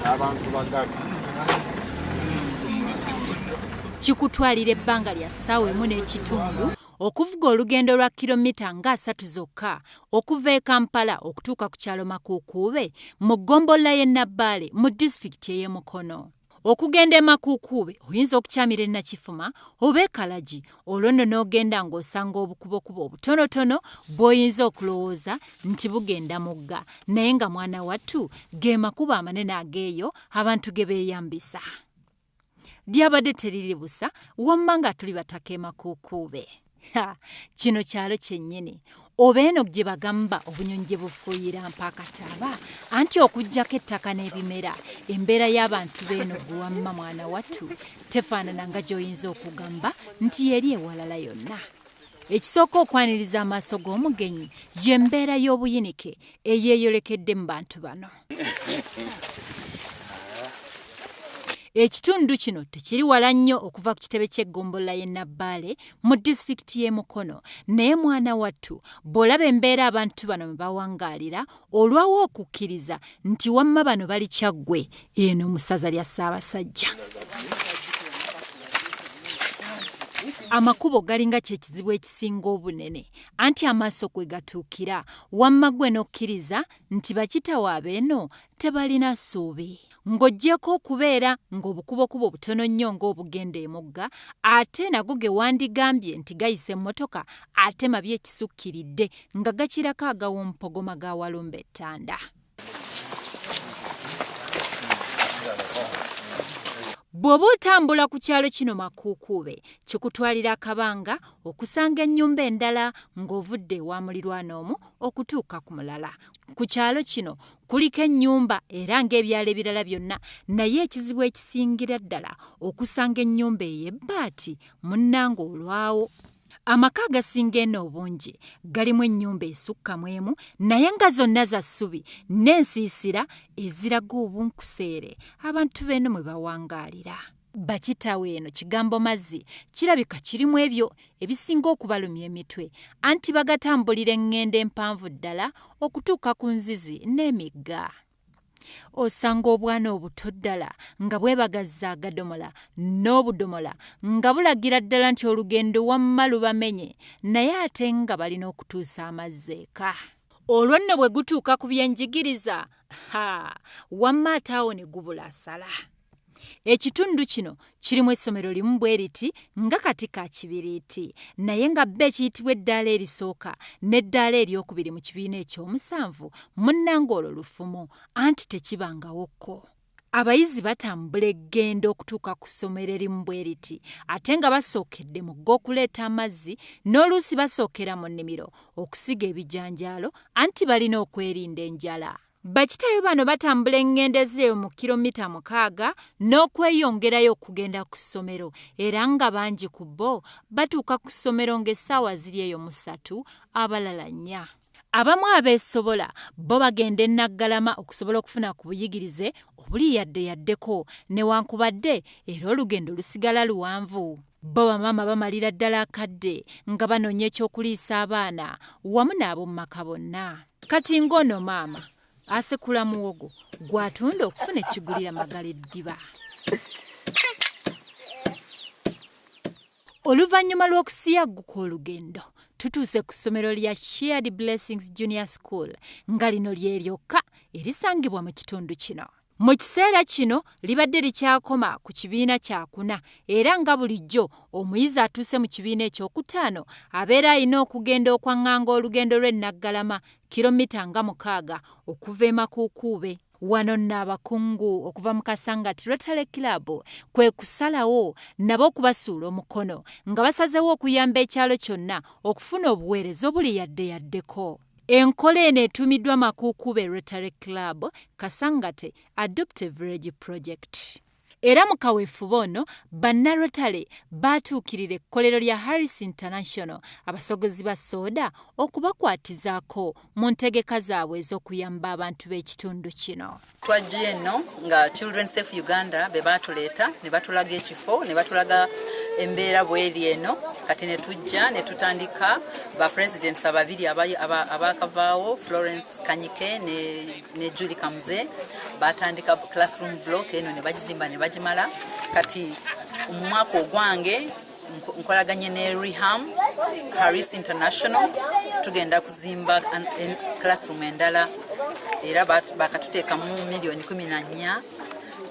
abantu bagabi kikutwalira ebbanga lya ssaawa emu n'ekitundu okuvuga olugendo lwa kilomita nga asatu zokka okuva e kampala okutuuka ku kyalo makuukuube mu ggombolola y'e nabbaale mu disitulikiti ey'e mukono Okugenda e Makuukuube oyinza okukyamira e Nakifuma oba e Kalagi olwo nno n'ogenda ng'osanga obukubokubo obutonotono bw'oyinza okulowooza nti bugenda mugga naye nga mwana wattu ge makubo amanene ag'eyo abantu ge beeyambisa. Lyabadde teriri busa wamma nga tuli bataka e Makuukuube. Ha, kino kyalo kyennyini oba eno gye bagamba obunyonyi gye bufuuyira mpaakataaba anti okuggyako ettaka n'ebimera embeera y'abantu beeno gwe wamma mwana wattu tefaanana nga gy'oyinza okugamba nti yeri ewalala yonna ekisooka okwaniriza amaaso g'omugenyi y'embeera y'obuyinike eyeeyolekedde mu bantu bano Ekitundu kino tekiri wala nnyo okuva ku kitebe ky'eggombolola y'e Nabbaale mu disitulikiti y'e Mukono naye mwana wattu bw'olaba embeera abantu bano mwe bawangaalira olwawo okukkiriza nti wamma bano bali Kyaggwe eno mu ssaza lya Ssaabasajja. amakubo galinga kyekizibu ekisinga obunene anti amaaso kwe gatuukira wamma gwe n'okkiriza nti bakitawe abeeno tebalina ssuubi. Ng'oggyeeko okubeera ng'obukubokubo butono nnyo ng'obugenda emugga, ate nago ge wandigambye nti gayisa emmotoka ate mabi ekisukkiridde nga gakirako ag'owomumpogoma ga Walumbe e Ttanda. Bw'oba otambula ku kyalo kino Makuukuube, kikutwalira akabanga okusanga ennyumba endala ng'ovudde ewa mulirwana omu okutuuka ku mulala. Ku kyalo kino kuliko ennyumba era ng'ebyalo ebirala byonna naye ekizibu ekisingira ddala okusanga ennyumba ey'ebbaati munnange olwawo. Amaka agasinga eno obungi galimu ennyumba esukka mu emu naye nga zonna za ssubi n'ensiisira eziraga obunkuseere abantu b'eno mwe bawangaalira. Bakitawe eno kigambo mazzi kirabika kirimu ebyo ebisinga okubalumya emitwe anti bagatambulira eŋŋendo empanvu ddala okutuuka ku nzizi n'emigga. Osanga obwana obuto ddala nga bwebagazza agadomola n'obudomola nga bulagira ddala nti olugendo wamma lubamenye naye ate nga balina okutuusa amazzi eka. Olwo nno bwe gutuuka ku byenjigiriza, ha, wamma ate awo ne gubula asala. Ekitundu kino kirimu essomero limu bwe liti nga kati ka kibiriiti, naye nga bba ekiyitibwa eddaala erisooka n'eddaala eryokubiri mu kibiina ekyomusanvu. Munnange olwo lufumo, anti tekibangawo ko. Abayizi batambula eggendo okutuuka ku ssomero erimu bwe liti, ate nga basookedde mugga okuleeta amazzi, n'oluusi basookera mu nnimiro okusiga ebijanjaalo, anti balina okwerinda enjala. Bakitayo bano batambula engendo ezeeyo mu kiromita mukaaga n'okweyongerayo okugenda ku ssomero era nga bangi ku bo batuuka ku ssomero ng'essaawa ziri eyo mu ssatu abalala nnya. Abamu abeesobola bo bagenda e Naggalama okusobola okufuna ku buyigirize obuli yadde yaddeko newankubadde era olugendo lusigala luwanvu. Bbo bamaama bamalira ddala akadde nga banoonya eky'okuliisa abaana wamu n'ab'omu maka bonna. Kati ng'ono maama asekula muwogo gw'atunda okufuna ekigulira magala eddiba. Oluvannyuma lw'okusiyagguka olugendo, tutuuse ku ssomero lya Shared Blessings Junior School nga lino lye lyokka erisangibwa mu kitundu kino. Mu kiseera kino libadde likyakoma ku kibiina kyakuna era nga bulijjo omuyizi atuuse mu kibiina ekyokutaano abeera alina okugenda okwaŋŋanga olugendo lw'e Naggalama, kiromita nga mukaaga okuva e Makuukuube. Wano nno abakungu okuva mu Kasangati Rotary Club kwe kusalawo nabo okubasuula omukono nga basazeewo okuyamba ekyalo kyonna okufuna obuweereza obuli yadde yaddeko. Enkola eno etuumiddwa Makuukube Rotary Club, Kasangate Adoptive Village Project. Era mu kaweefube ono, Bannarotary baatuukirira ekkolero lya Harris International abasogozi ba sooda okubakwatizaako mu ntegeka zaabwe ez'okuyamba abantu b'ekitundu kino. Twajjuye enno nga Children Safe Uganda be baatuleeta ne batulaga ekifo ne batulaga embeera bweri eno kati ne tujja ne tutandika ba presidents ababiri abaakavaawo aba, aba Florence Kanyike ne, ne Julie Kamuze baatandika classroom block eno ne bagizimba ne bagimala kati mu mwaka ogwange nkolaganye ne reham harris international tugenda kuzimba classroom endala era bakatuteekamu miliyoni kumi na nnya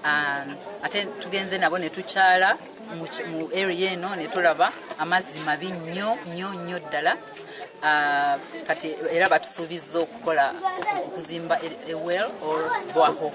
um, ate tugenze nabo ne tukyala mu area eno ne tulaba amazzi mabi nnyo nnyo nnyo ddala uh, kati era batusuubizza okukola okuzimba ewell or bwaho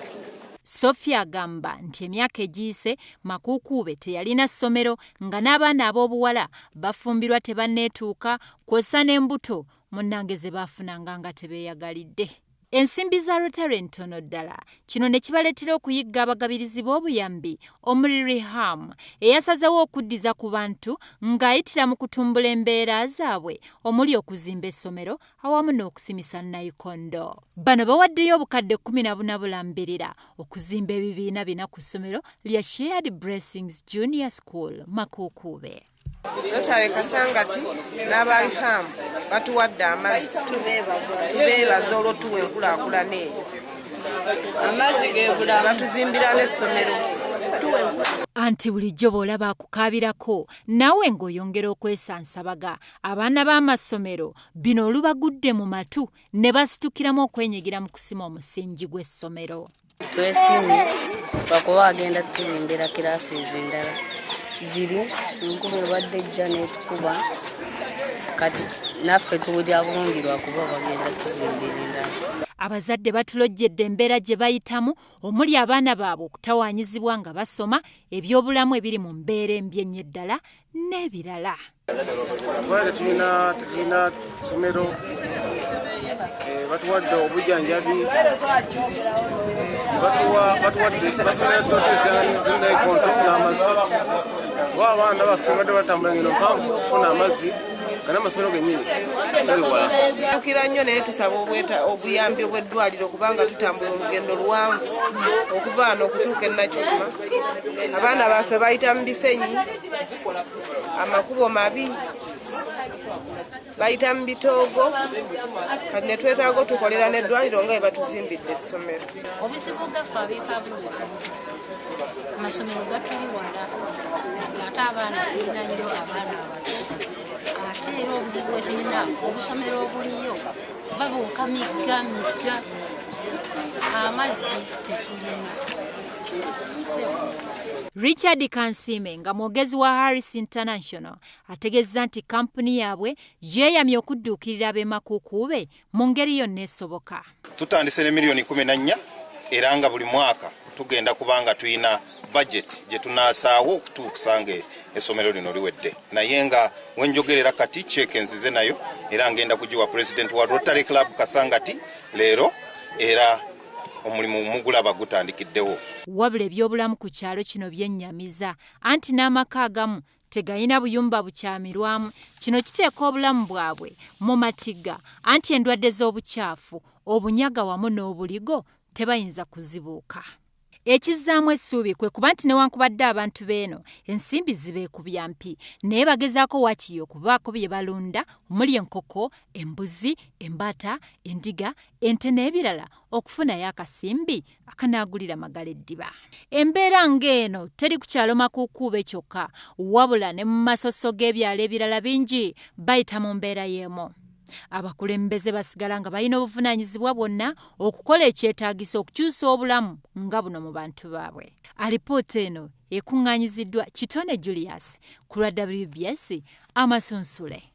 Sophia agamba nti emyaka egiyise Makuukuube teyalina ssomero nga n'abaana ab'obuwala bafumbirwa tebanneetuuka kwossa n'embuto munnange ze baafunanga nga tebeeyagalidde. Ensimbi za Rotary ntono ddala kino ne kibaleetera okuyigga abagabirizi b'obuyambi omuli Riham eyasazeewo okuddiza ku bantu ng'ayitira mu kutumbula embeera zaabwe omuli okuzimba essomero awamu n'okusimisa nayikondo. Bano bawaddeyo obukadde kkumi na buna bulambirira okuzimba ebibiina bina ku ssomero lya Shared Blessings Junior School Makuukuube. Notary Kasangati n'abaliham batuwadde amazzi tubeebaza olw'otuwa enkulaakulana eyo amazzi gebula batuzimbira n'essomero anti bulijjo bw'olaba akukaabirako naawe ng'oyongera okwesansabaga abaana b'amassomero bino olubagudde mu matu ne basitukiramu okwenyigira mu kusima omusingi gw'essomero. Twesimye bakuba agenda tuzimbira kiraasi ez'endala ziri enkuba ebadde ejja n'etukuba kati naffe tuwulira bulungi lwakuba bagenda tuzimbira endala. Abazadde batulojjedde embeera gye bayitamu omuli abaana baabwe okutawaanyizibwa nga basoma, ebyobulamu ebiri mu mbeera embi ennyo eddala n'ebirala kubanga tetulina tetulina ssomero eh, batuwadde obujanjabi batuwadde basomerototezinaikonto n'amazzi oba abaana baffe badde batambula ngeno mpanvu okufuna amazzi kana amasomero genyini galiwala tukira nnyo naye tusaba obweta obuyambi obw'eddwaliro kubanga tutambula olugendo luwanvu okuva ano okutuuka enakyuma abaana baffe bayita mu bisenyi amakubo mabi bayita mu bitoogo kati ne twetaaga otukolera n'eddwaliro nga bwe batuzimbidde essomero obuzibu gaffe abekabuwa amasomero gatuli wala ate abaana tulina nnyo abaana abato ate era obuzibu bwetulina obusomero obuliyo babuuka migga migga amazzi tetulina Richard Kansiime nga mwogezi wa Harris International ategezza nti kampuni yaabwe yeeyamye okudduukirira ab'emakuukuube mu ngeri yonna esoboka. Tutandise ne miliyoni kumi na nnya era nga buli mwaka tugenda kubanga tulina bajeti gye tunaasaawo okutuusa nga essomero lino liwedde naye nga wenjogerera kati ceeke nzize nayo era ngenda kugiwa pulezidenti wa rotary club kasangati leero era omulimu mugulaba gutandikiddewo. Wabula ebyobulamu ku kyalo kino byennyamiza anti n'amaka agamu tegalina buyumba bukyamirwamu, kino kiteeka obulamu bwabwe mu matigga anti endwadde z'obukyafu, obunyaga wamu n'obuligo tebayinza kuzibuuka. Ekizzaamu essuubi kwe kuba nti newankubadde abantu b'eno ensimbi zibeekubya mpi naye bagezaako waakiri okubaako bye balunda omuli enkoko, embuzi, embaata, endiga, ente n'ebirala okufunayo akasimbi akanaagulira Magala eddiba. Embeera ng'eno teri ku kyalo Makuukuube kyokka wabula ne mu masosso g'ebyalo ebirala bingi bayita mu mbeera y'emu. Abakulembeze basigala nga balina obuvunaanyizibwa bwonna okukola ekyetaagisa okukyusa obulamu nga buno mu bantu baabwe. Alipoota eno ekuŋŋaanyiziddwa Kitone Julius ku lwa WBS Amasunsule.